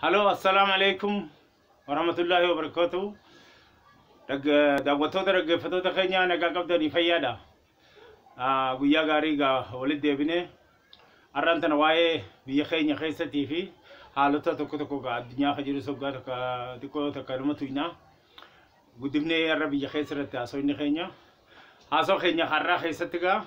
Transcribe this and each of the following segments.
Haloo assalaamu alaikum warahmatullaahi wabarakatuh daawwattoota dhaggeeffattoota keenya nagaa qabdanii fayyaadha Ah, guyyaa gaarii gaa walitti deebine har'aan tana waa'ee biyya keenya keessatii fi haalota tokko tokko gaa addunyaa kan jiru soggaa takka xiqqoo takka nama tuynaa Guddifnee har'a biyya keessa irratti haasofni keenya. Haasoo keenya har'aa keessatti gaa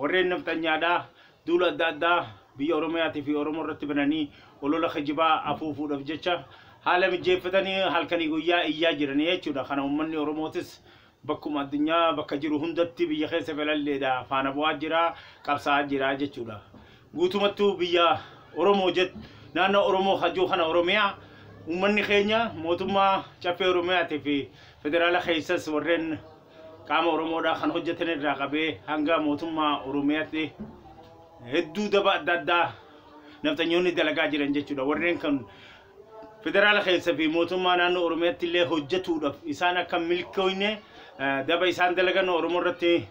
warreen nafxanyaadhaa duula adda addaa biyya Oromiyaatii fi Oromoo irratti bananii olola kijibaa afuufuudhaaf jecha haala mijeeffatanii halkanii guyyaa iyyaa jiran jechuudha. Kana uummanni Oromootis Bakkuma addunyaa bakka jiru hundatti biyya keessa galalleedha faana bu'aa jira, qabsaa'aa jira jechuudha. Guutumattuu biyya Oromoo jet naannoo Oromoo ka jiru kana Oromiyaa uummanni keenya mootummaa Caffee Oromiyaatii fi federaala keessas warreen qaama Oromoodhaa kan hojjetan irraa qabee hanga mootummaa Oromiyaatti hedduu daba adda addaa nafxanyoonni dalagaa jiran jechuudha. Warreen kan federaala keessa fi mootummaa naannoo Oromiyaatti illee hojjetuudhaaf isaan akka milkooyne daba isaan dalagan Oromoo irratti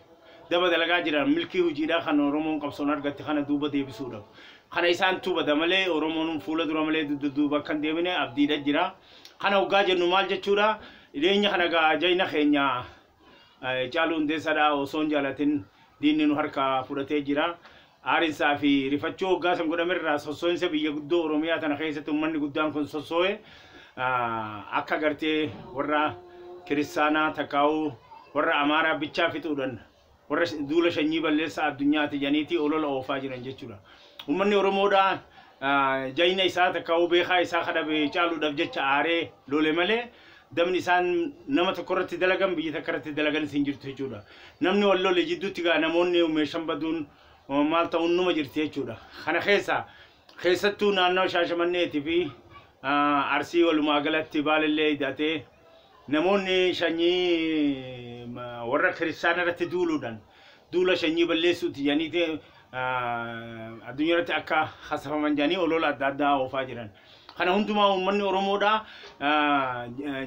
daba dalagaa jiran milkii hojiidhaa kan Oromoon qabsoon argatte kana duuba deebisuudhaaf. Kana isaan tubada malee Oromoon fuula dura malee dudda duuba akka hin deemine abdiidha jira. Kana hoggaa jennu maal jechuudha? Dhiyeenya kana gaa jayna keenya Hacaaluu Hundeessaadha osoo hin jaalatin diinni nu harkaa fudhatee jira. Aarinsaa fi rifachuu hoggaa san godhame irraa sossoo'insa biyya guddoo Oromiyaa tana keessatti ummanni guddaan kun sossoo'e akka gartee warra kiristaanaa takkaa'uu warra Amaaraa bichaa fixuudhan warra duula shanyii balleessaa addunyaati janiitii olola oofaa jiran jechuudha. Ummanni Oromoodha jayna isaa takkaa'uu beekaa isaa kadhabe caaluudhaaf jecha aaree lole malee Dabni isaan nama tokko irratti dalagan biyya takka irratti dalaganis hin jirtu jechuudha. Namni wal lole jidduutti gaa namoonni meeshan baduun maal ta'uun numa jirti jechuudha. Kana keessa keessattuu naannawa Shaashamanneetii fi Arsii walumaa galatti baalillee hidhatee namoonni shanyii warra kiristaana irratti duuluudhaan duula shanyii balleessuuti jedhaniiti addunyaa irratti akka hasafaman jedhanii olola adda addaa oofaa jiran. Kana hundumaa uummanni Oromoodhaa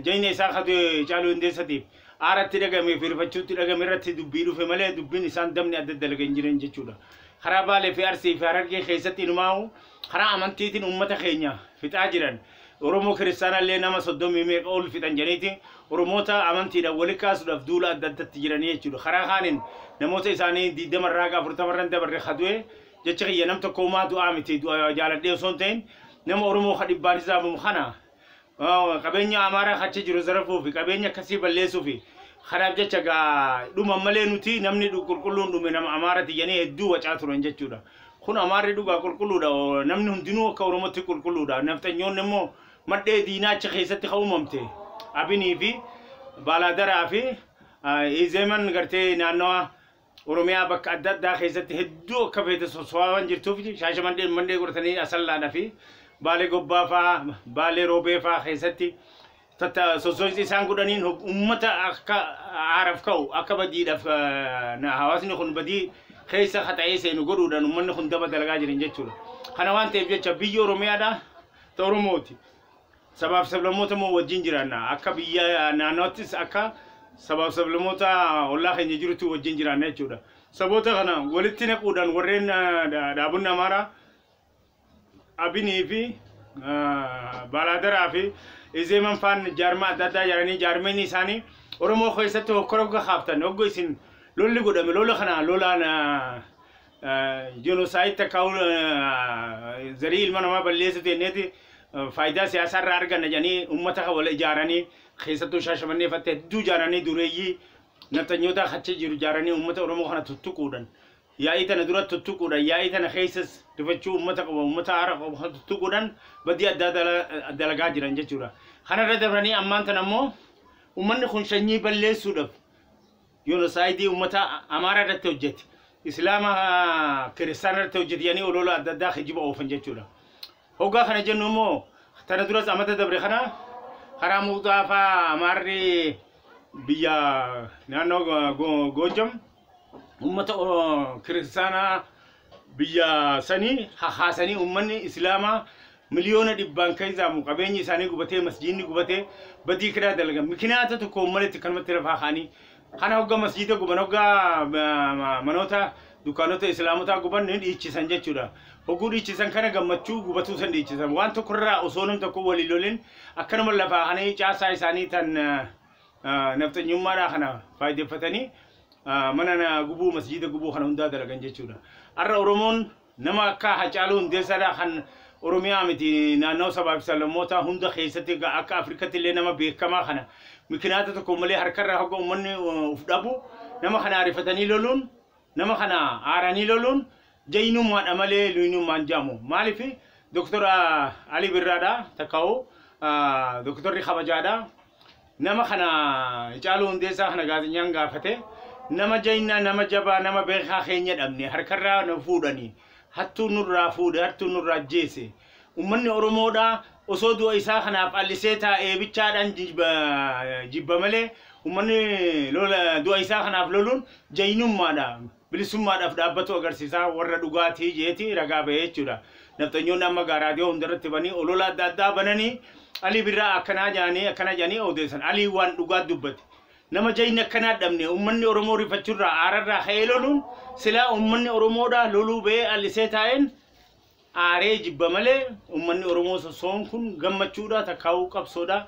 jayna isaa ka du'e Caaluu Hundeessatiif aara itti dhagahame fi rifachuu itti dhagahame irratti dubbii dhufe malee dubbiin isaan dabni adda dalagan hin jiran jechuudha. Karaa Baalee fi Arsii fi Harargee keessatti inumaa'u karaa amantiitiin uummata keenya fixaa jiran. Oromoo kiristaana illee nama soddomii meeqa ol fixan jedhaniiti Oromoota amantiidhaan wali kaasuudhaaf duula adda addatti jiranii jechuudha. Karaa kaaniin namoota isaanii 20 irraa haga 40 irra hin dabarre ka du'e Jechi kiyya nam tokko humaa du'aa miti du'a jaaladhee osoo hin ta'in nama Oromoo ka dhibbaan hisaabamu kana qabeenya Amaaraa ka achi jiru zarafuu fi qabeenya akkasii balleessuu fi kanaaf jecha gaa dhuman malee nuti namni dhu- qulqulluun dhume nama Amaarati jedhanii hedduu wacaa turan jechuudha. Kun Amaarri dhugaa qulqulluudha o- namni hundinuu akka Oromootti qulqulluudha. Nafxanyoonni immoo madhee diinaa achi keessatti ka uumamte Abinii fi Baalaadaraa fi ah, Izeeman gartee naannawa Oromiyaa bakka adda addaa keessatti hedduu akka feete sosso'aa waan jirtuuf shaashamanneen mannee godhatanii asallaadha fi baalee gobbaa faa baalee roobee faa keessatti tatta sosso'insi isaan godhaniin hog- uummata akka aaraaf ka'u akka badiidhaaf eh, na- hawaasni kun badii keessa haxa'ee seenu godhuudhaan uummanni kun daba dalagaa jiran jechuudha. Kana waan ta'eef jecha biyyi Oromiyaadha ta Oromooti. Sabaaf sablammoota immoo wajjin jiraanna. Akka biyya naannoottis akka sabaaf sablammoota ollaa keenya jirutti wajjin jiraanna jechuudha. Saboota kana walitti naquudhaan warreen dhaabonni Amaaraa Abinii fi Baalaadaraa fi Izeeman faan jaarmaa adda addaa jedhanii jaarmeen isaanii Oromoo keessatti hokkora hogga kaaftan hogga isin lolli godhame lola kana lolaan Jenosaayid takka zarii ilma namaa balleessuuti jenneeti faayidaa siyaasaa irraa arganna jedhanii uummata kan wal ijaaranii keessattuu shaashamannee fatte hedduu ijaaranii dureeyyii nafxanyootaa kacha jiru ijaaranii uummata Oromoo kana tuttuquudhan yaa'ii tana dura tuttuquudhan yaa'ii tana keessas rifachuu uummata qaba uummata haara qabu kan tuttuquudhan badii addaa dala- dalagaa jiran jechuudha. Kanarra dabranii ammaan tana immoo uummanni kun shanyii balleessuudhaaf Jenosaayidii ummata Amaaraa irratti hojjete, Islaama Kiristaana irratti hojjete jedhanii oloola adda addaa kijiba oofan jechuudha. Hoggaa kana jennu immoo tana duras amata dabre kana karaa muuxaa fa'aa Amaarri biyya naannoo Goojjam ummata Kiristaanaa biyya sanii hahaasanii ummanni islaamaa miliyoona dhibbaan kaizaamu qabeenyi isaanii gubatee masjiinni gubatee badii kiraa dalagan mikinaata tokko ummaletti kanumatti lafaa kaanii kana hogga masjiida guban hogga manoota dukkaanota islaamotaa guban ni dhiichisan jechuudha hogguu dhiichisan kana gammachuu gubatuu san dhiichisan waan tokko irraa osoo nam tokko walii lolin akkanuma lafaa kanii caasaa isaanii tan nafxanyummaadhaa kana faayideffatanii mana na gubuu masjiida gubuu kana hundaa dalagan jechuudha. Har'a Oromoon nama akka Hacaaluu Hundeessaadhaa kan Oromiyaa miti naannoo sabaa fi sablammootaa hunda keessatti akka Afrikatti illee nama beekamaa kana mikinaata tokko malee harkarra hogga uummanni uf dhabu nama kana arifatanii loluun Nama kana aaranii loluun jaynummaadha malee luynummaan jaamu. Maaliif Dr. Alii Birraadha takkaa'u Dr. kabajaadha. Nama kana Hacaaluu Hundeessaa kana gaazexaan gaafate nama jaynaa, nama jabaa, nama beekaa keenya dhabne harkarraa nu fuudhanii hattuu nurraa fuudhe, hattuu nurraa ajjeese. Ummanni Oromoodhaa osoo du'a isaa kanaaf callisee taa'ee bichaadhaan jibba malee ummanni du'a isaa kanaaf loluun jaynummaadha, bilisummaadhaaf dhaabbatuu agarsiisa warra dhugaatii jeeti ragaa bahee jechuudha. Nafxanyoonni amma gaa raadiyoo hundarratti banii olola adda addaa bananii Alii Birraa akkanaa jedhanii akkana jedhanii odeessan. Aliin waan dhugaa dubbate. Nama jayni akkanaa dhabne ummanni Oromoo rifachurraa aararraa ka'ee loluun silaa ummanni Oromoodhaa loluu bahee callisee taa'een aaree jibba malee ummanni oromoo sosso'oon kun gammachuudha takkaawuu qabsoodha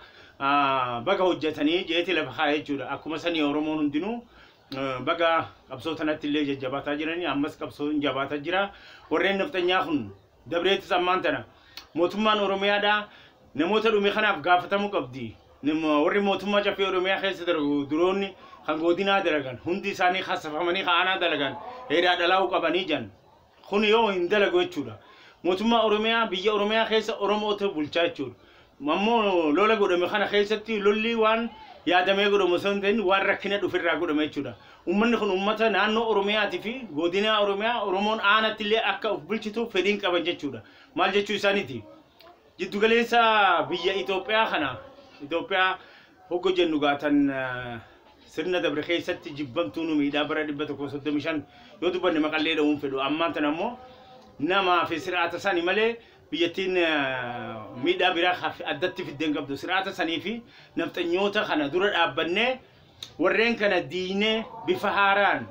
baga hojjatanii jeeti lafa kaa'a jechuudha akkuma sanii oromoon hundinuu baga qabsoo tanatti illee jajjabaataa jiranii ammas qabsoon jabaataa jira warreen nafxanyaa kun dabreetis ammaan tana mootummaan oromiyaadha namoota dhume kanaaf gaafatamuu qabdi warri mootummaa caffee oromiyaa keessa darbu duroonni kan godinaa dalagan hundi isaanii kasafamanii ka'anaa dalagan heedaa dhalaa'uu qabanii jan Kun yoo hin dalagu jechuudha. Mootummaa Oromiyaa biyya Oromiyaa keessa Oromootu bulchaa jechuudha. Ammoo lola godhame kana keessatti lolli waan yaadamee godhamu osoo hin ta'in waan rakkina dhuferraa godhame jechuudha. Uummanni kun uummata naannoo Oromiyaatii fi godinaa Oromiyaa Oromoon aanatti illee akka of bulchituuf fedhiin qaban jechuudha. Maal jechuu isaaniiti? Jiddu galeessa biyya Itoophiyaa kana Itoophiyaa hogga jennu gaa tan sirna dabre keessatti jibbamtuu nu miidhaa bara 135 yoo dubbanne maqallee dha'uun fedhu ammaan tan ammoo namaa fi sir'aata sani malee biyyattiin miidhaa biraa addatti fiddeen qabdu sir'aata sanii fi nafxanyoota kana dura dhaabbannee warreen kana diinee bifa haaraan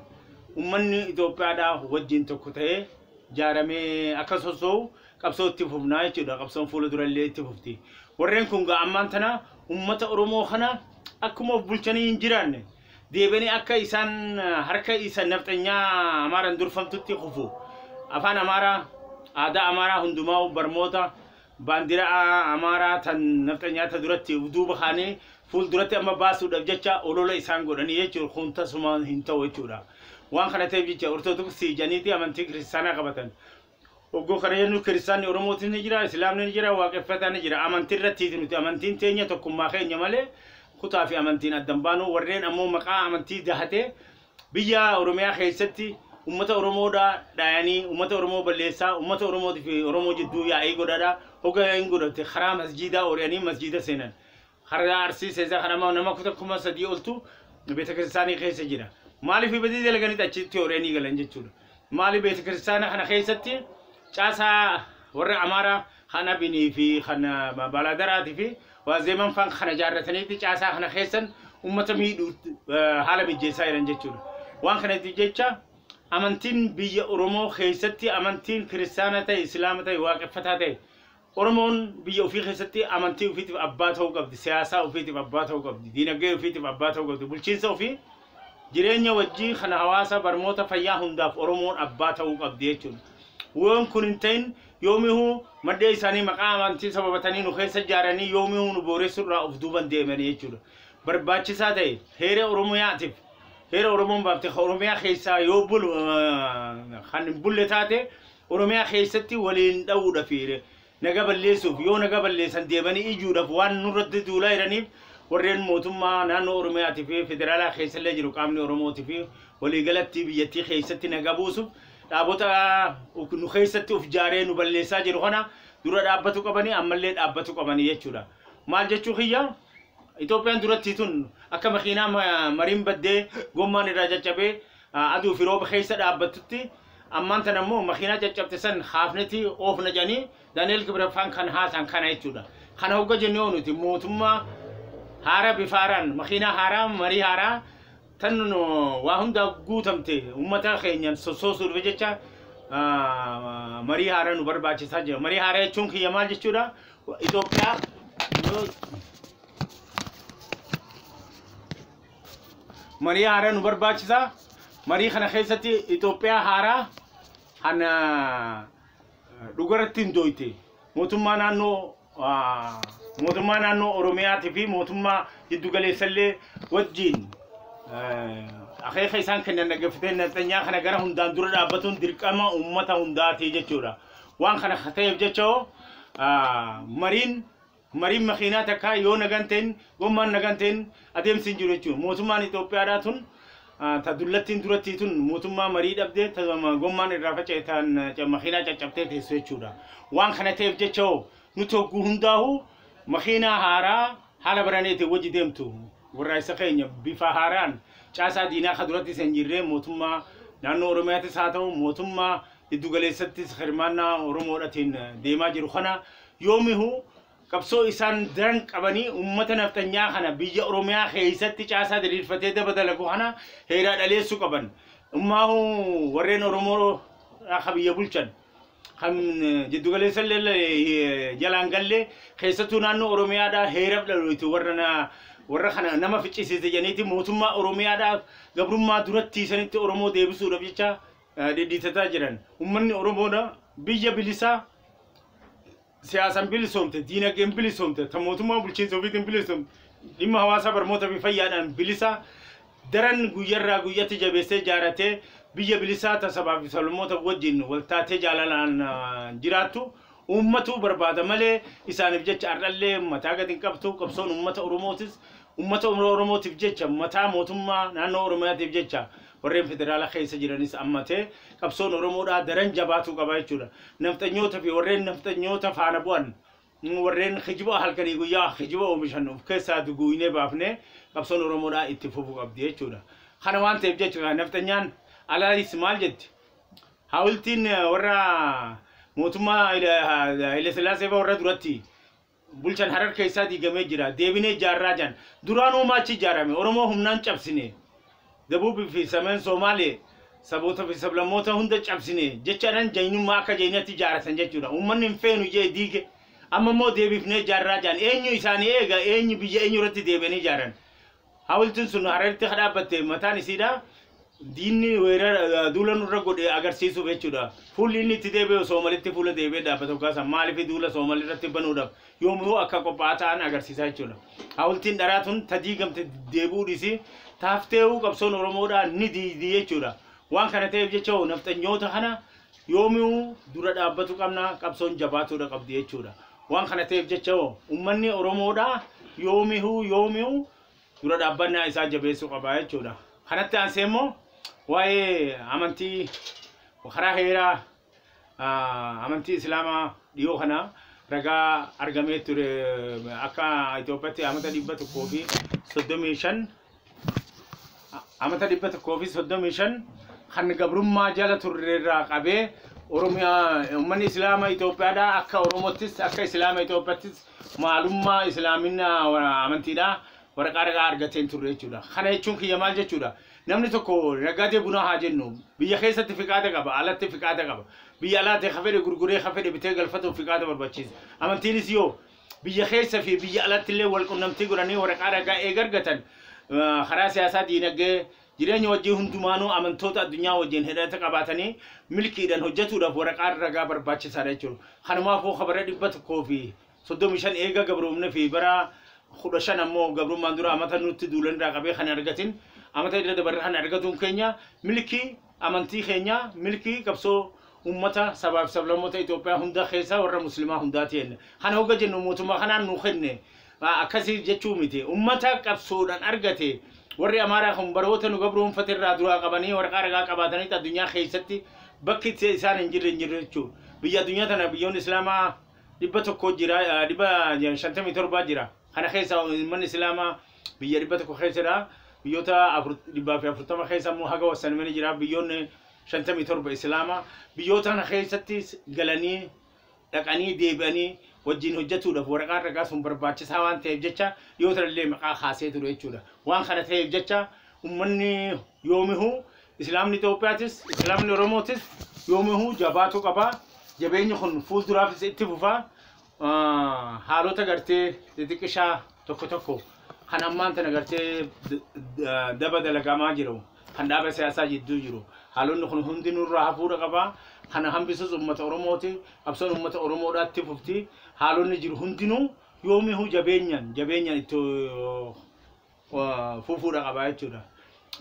ummanni Itoophiyaadhaa wajjin tokko ta'ee jaaramee akka sossoo'u qabsoo itti fufnaa jechuudha. Qabsoon fuula dura illee itti fufti. Warreen kun gaa ammaan tana uummata Oromoo kana akkuma of bulchanii hin jiraanne deebi'anii akka isaan harka isa nafxanyaa Amaaraan durfamtutti kufu. Afaan Amaaraa, aadaa Amaaraa hundumaa barmoota baandiraa Amaaraa tan nafxanyaa ta duratti of duuba kaanii fuul duratti amma baasuudhaaf jecha olola isaan godhanii jechuudha. Kun tasumaan hin ta'u jechuudha. Waan kana ta'eef jecha Ortodoksii janiiti amantii kiristaanaa qabatan. Oggoo kana jennu kiristaanni Oromootis ni jira, Islaamni ni jira, waaqeffataan ni jira. Amantii irrattiiti nuti. Amantiin teenya tokkummaa keenya malee kutaa fi amantiin adda hin baanu. Warreen ammoo maqaa amantii dahatee biyya Oromiyaa keessatti ummata Oromoodha dhaayanii ummata Oromoo balleessaa ummata Oromootii fi Oromoo jidduu yaa'ii godhadha. Hoga yaa'iin godhatte karaa masjiidaa ooriyanii masjiida seenan. Har'a Arsii Seezaa kan amma nama kuta kuma sadii oltu beetakiristaanii keessa jira. Maaliif badii dalaganitti achitti horanii galan jechuudha. Maaliif beetakiristaana kana keessatti caasaa warra Amaaraa kan Abinii fi kan Baaladaraatii fi Waazeeman faan kana ijaarrataniitti caasaa kana keessan uummata miidhuu haala mijeessaa jiran jechuudha. Waan kanatti jecha amantiin biyya Oromoo keessatti amantiin kiristaana ta'e, Islaama ta'e, waaqeffataa ta'e Oromoon biyya ofii keessatti amantii ofiitiif abbaa ta'uu qabdi, siyaasaa ofiitiif abbaa ta'uu qabdi, diinagdee ofiitiif abbaa ta'uu qabdi, bulchiinsa ofii, jireenya wajjii kan hawaasaa, barmoota, fayyaa hundaaf Oromoon abbaa ta'uu qabdi jechuudha. Yoon kun hin ta'in yoomihuu mandhee isaanii maqaa amantii sababatanii nu keessa ijaaranii yoomihuu nu booressu irraa of duuban deemanii jechuudha. Barbaachisaa ta'e heera Oromiyaatiif heera Oromoon baafte kan Oromiyaa keessaa yoo bulu kan hin bulle taate Oromiyaa keessatti waliin dha'uudha fi naga balleessuuf yoo naga balleessan deebanii ijuudhaaf waan nurratti duulaa jiraniif warreen mootummaa naannoo Oromiyaatii fi federaalaa keessallee jiru qaamni Oromootii fi waliigalatti biyyattii keessatti naga buusuuf dhaabota nu keessatti uf jaaree nu balleessaa jiru kana dura dhaabbatu qabanii ammallee dhaabbatu qabanii jechuudha. Maal jechuu kiyya Itoophiyaan duratti tun akka makiinaa mariin baddee gommaan irraa caccabee Aduu fi rooba keessa dhaabbattutti ammaan tana immoo makiinaa caccabte san kaafnetii oofna jedhanii Daani'eel Kibreffaan kan haasaan kana jechuudha. Kana hogga jennee hoo nuti mootummaa haaraa bifa haaraan makiinaa haaraa marii haaraa tan waa hundaa guutamte uummata keenyaan sossoosuudhaaf jecha marii haaraa nu barbaachisaa jira. Marii haaraa jechuun kiyya maal jechuudha? Itoophiyaa marii haaraa nu barbaachisa. Marii kana keessatti Itoophiyaa haaraa kana dhugaratti hin dooyte mootummaa naannoo ah, mootummaa naannoo Oromiyaatii fi mootummaa jiddu galeessallee wajjin eh, akeeka isaan kennan dhaggeeffatee nafxanyaa kana gara hundaan dura dhaabbatuun dirqama uummata hundaati jechuudha. Waan kana ta'eef jecha hoo ah, mariin Mariin makiinaa takkaa yoo nagaan ta'in, gommaan nagaan ta'in adeemsi hin jiru jechuun mootummaan Itoophiyaadhaa tun ta dullattiin durattii tun mootummaa marii dhabde ta gommaan irraa faca'e tan makiinaa caccabtee teessu jechuudha. Waan kana ta'eef jecha hoo nuti hogguu hundaahu makiinaa haaraa haala baraneetiin wajji deemtu warraaqsa keenya bifa haaraan caasaa diinaa ka durattis hin jirree mootummaa naannoo Oromiyaattis haa ta'u mootummaa giddugaleessattis hirmaannaa Oromoodhatiin deemaa jiru kana Yoomihuu qabsoo isaan daran qabanii uummata nafxanyaa kana biyya Oromiyaa keessatti caasaa diriirfatee daba dalagu kana heeraa dhaleessuu qaban. Ummaahuu warreen Oromoo akka biyya bulchan kan jiddu galeessa illee jalaan galle keessattuu naannoo Oromiyaadhaa heeraf dhalooti warra na warra kana nama ficcisiise jedhaniiti mootummaa Oromiyaadhaaf gabrummaa duratti sanitti Oromoo deebisuudhaaf jecha dhidhiitataa jiran. Ummanni Oromoodha biyya bilisaa siyaasan bilisoomte, diinagdeen bilisoomte, ta mootummaa bulchiinsa ofiitiin bilisoomte, dhimma hawaasaa barmoota fi fayyaadhaan bilisaa daran guyyarraa guyyatti jabeessee jaaratee biyya bilisaa ta sabaa fi sablammoota wajjin waltaatee jaalalaan jiraattu uummatuu barbaada malee isaaniif jecha har'allee mataa gad hin qabtu qabsoon uummata Oromootis Ummata Oromootiif jecha, mataa mootummaa naannoo Oromiyaatiif jecha warreen federaala keessa jiranis hammatee qabsoon Oromoodhaa daran jabaatuu qaba jechuudha. Nafxanyoota fi warreen nafxanyoota faana bu'an, warreen kijiba halkanii guyyaa kijiba oomishan of keessaa duguugnee baafnee qabsoon Oromoodhaa itti fufuu qabdi jechuudha. Kana waan ta'eef jecha kaa nafxanyaan alaayis maal jetti? Haawiltiin warra mootummaa Haayilasillaasee fa'aa warra duratti Bulchan Harar keessaa diigamee jira. Deebinee ijaarraa jedhan. Duraan uumaa achi ijaarame. Oromoo humnaan cabsine. Dabuubii fi Sameen Soomaalee saboota fi sablammoota hunda cabsine jechaadhaan jaynummaa akka jaynatti ijaaratan jechuudha. Uummanni hin feenu jee diige. Amma immoo deebifnee ijaarraa jedhan. Eenyu isaanii eega? Eenyu biyya eenyu irratti deebi'anii ijaaran? Hawultiin sun Hararitti ka dhaabbatte mataan isiidha. Diinni weerara duula nurra godhe agarsiisuuf jechuudha. Fuulli inni itti deebi'e Soomalitti fuula deebi'ee dhaabbata hoggaa san maaliif duula Soomal irratti banuudhaaf yoomuu akka qophaa'aa ta'an agarsiisaa jechuudha. Hawultiin dharaa tun ta diigamte deebi'uu dhiisii taaftee'uu qabsoon Oromoodhaa ni diigdi jechuudha. Waan kana ta'eef jecha hoo nafxanyoota kana Yoomiyuu dura dhaabbatu qabna, qabsoon jabaatuudha qabdi jechuudha. Waan kana ta'eef jecha hoo ummanni Oromoodhaa yoomihuu yoomiyuu dura dhaabbannaa isaa jabeessuu qaba jechuudha. Kanatti aansee immoo waa'ee amantii karaa heeraa ah, amantii Islaamaa dhiyoo kana ragaa argamee ture akka Itoophiyaatti amata dhibba tokkoo fi soddomii shan amata 135 kan gabrummaa jala turre irraa qabee Oromiyaa uummanni Islaama Itoophiyaadhaa akka Oromottis akka Islaama Itoophiyaattis maalummaa Islaamina amantiidhaa waraqaa ragaa argateen turre jechuudha. Kana jechuun kiyya maal jechuudha? Namni tokko nagaadee bunaa haa jennu biyya keessatti fiqaada qaba alatti fiqaada qaba biyya alaatti ka fedhe gurguree ka fedhe bitee galfatuuf fiqaada barbaachisa. Amantiinis yoo biyya keessa fi biyya alatti illee wal qunnamtii godhanii waraqaa ragaa eega argatan ah, karaa siyaasaa, diinagdee, jireenya wajjin hundumaanuu amantoota addunyaa wajjin hidhata qabaatanii milkiidhaan hojjetuudhaaf waraqaan ragaa barbaachisaadha jechuudha. Kanumaafuu ka bara dhibba tokkoo fi soddomii shan eega gabroomne fi bara kudha shan ammoo gabrummaan dura amata nutti duulan irraa qabee kan argatin amata irra dabarre kan argatuun keenya milkii amantii keenya milkii qabsoo ummata sabaa fi sablammoota Itoophiyaa hunda keessaa warra muslimaa hundaati jenna. Kana hogga jennu mootummaa kanaan nu kenne akkasii jechuu miti. Ummata qabsoodhaan argate warri Amaaraa kun baroota nu gabroomfate irraa duraa qabanii waraqaa ragaa qabaatanitti addunyaa keessatti bakki itti isaan hin jirre hin jirre jechuudha. Biyya addunyaa tana biyyoonni Islaamaa dhibba tokko jira dhibba shantamii torbaa jira. Kana keessaa uummanni Islaamaa biyya 100 keessa jira. Biyyoota 140 keessa immoo haga wassanimani jira. Biyyoonni 57 Islaama. Biyyoota kana keessatti galanii dhaqanii deebi'anii wajjin hojjetuudhaaf waraqaan ragaa sun barbaachisaa waan ta'eef jecha yoo tanallee maqaa kaasee ture jechuudha. Waan kana ta'eef jecha ummanni yoomihuu Islaamni Itoophiyaatis Islaamni Oromootis yoomihuu jabaatuu qaba. Jabeenyi kun fuulduraafis itti fufaa. haalota gartee xixiqqishaa tokko tokko kan ammaan tana gartee daba dalagamaa jiru kan dhaaba siyaasaa jidduu jiru haalonni kun hundi nurraa hafuudha qaba kana hambisuus uummata oromooti qabsoon uummata oromoodhaatti fufti haalonni jiru hundinuu yoomihuu jabeenyaan jabeenyaan itti fufuudha qabaa jechuudha.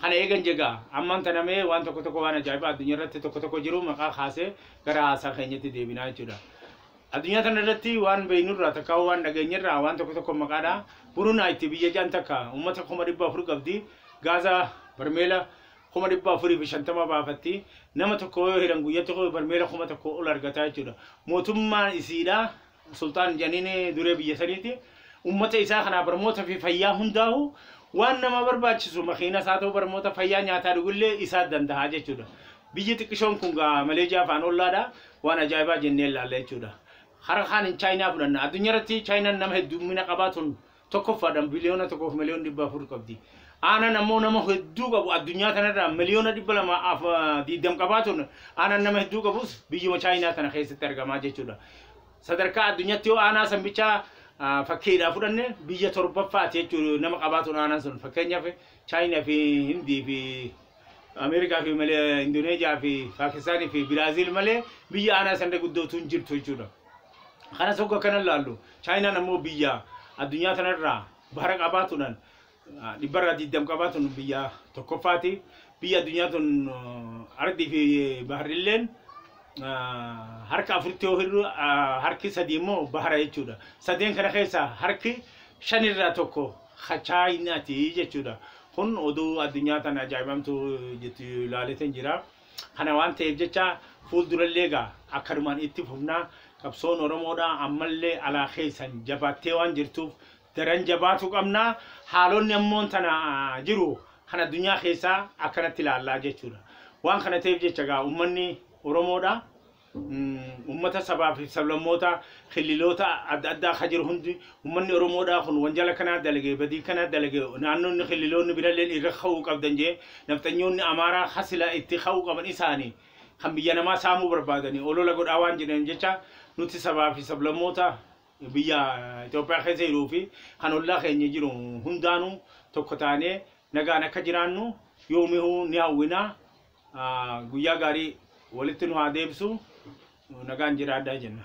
Kana eegan jegaa ammaan tana mee waan tokko tokko waan ajaa'ibaa addunyaa irratti tokko tokko jiru maqaa kaasee gara haasaa keenyatti deebinaa jechuudha. Addunyaa tana irratti waan beeknurraa takka waan dhageenyerraa waan tokko tokko maqaadha. Burunaa itti biyya jaan takka uummata kuma dhibba afur qabdi. Gaaza barmeela kuma dhibba afurii fi shantama baafatti. Nama tokko yoo hiran guyyatti barmeela kuma tokko ol argataa jechuudha. Mootummaan isiidha Sulxaan Janiin duree biyya saniiti. Uummata isaa kanaaf barmoota fi fayyaa hundaahu waan namaa barbaachisu makiina isaa ta'uu barmoota fayyaa nyaataa dhugullee isaa danda'a jechuudha. Biyyi xiqqishoon kun gaa Maleejiyaa faan ollaadha waan ajaa'ibaa jennee ilaalla jechuudha. Hara kaan hin chaayinaa fudhanna. Addunyaa irratti chaayinaan nama heddummina qabaa tun tokkoffaadhaan biliyoona tokkoof miliyoon dhibba afur qabdi. Aanan ammoo nama hedduu qabu addunyaa kanarraa miliyoona dhibba lama af diiddam qabaatuun aanan nama hedduu qabus biyyuma Chaayinaa tana keessatti argamaa jechuudha. Sadarkaa addunyaatti yoo aanaa san bichaa fakkeedhaa fudhanne biyya torbaffaati jechuudha nama qabaatuun aanan sun fakkeenyaaf Chaayinaa fi Hindii fi Ameerikaa fi malee Indoneeziyaa fi Paakistaanii fi Biraaziil malee biyya aanaa san guddootu hin jirtu jechuudha. Kanas hogga kana laallu Chaayinaan ammoo biyya addunyaa tanarraa bahara qabaatuudhaan dhibbarraa 20 qabaatuun biyya tokkoffaati. Biyya addunyaa tun ardii fi baharrilleen harka afuritti yoo hirru harki sadii immoo bahara jechuudha. Sadeen kana keessaa harki shanirraa tokko ka Chaayinaati jechuudha. Kun oduu addunyaa tana ajaa'ibamtuu jettu ilaaleetan jira. Kana waan ta'eef jecha fuuldurallee egaa akkanumaan itti fufna. Qabsoon Oromoodhaa ammallee alaa keessan jabaattee waan jirtuuf daran jabaatuu qabna. Haalonni ammoo tana jiru kan addunyaa keessaa akkanatti ilaalla jechuudha. Waan kana ta'eef jecha egaa ummanni Oromoodhaa Ummata sabaa fi sablammootaa killiloota adda addaa ka jiru hundi ummanni Oromoodhaa kun wanjala kanaa dalage badii kanaa dalage naannoonni killiloonni biralleen irra ka'uu qabdan jee nafxanyoonni Amaaraa ka silaa itti ka'uu qaban isaani kan biyya namaa saamuu barbaadani olola godhaa waan jiraniif jecha nuti sabaa fi sablammoota biyya Itoophiyaa keessa jiruu fi kan ollaa keenya jiru hundaanuu tokko taanee nagaan akka jiraannu yoomihuu ni hawwinaa. guyyaa gaarii walitti nu haa deebisu nagaan jiraadhaa jenna.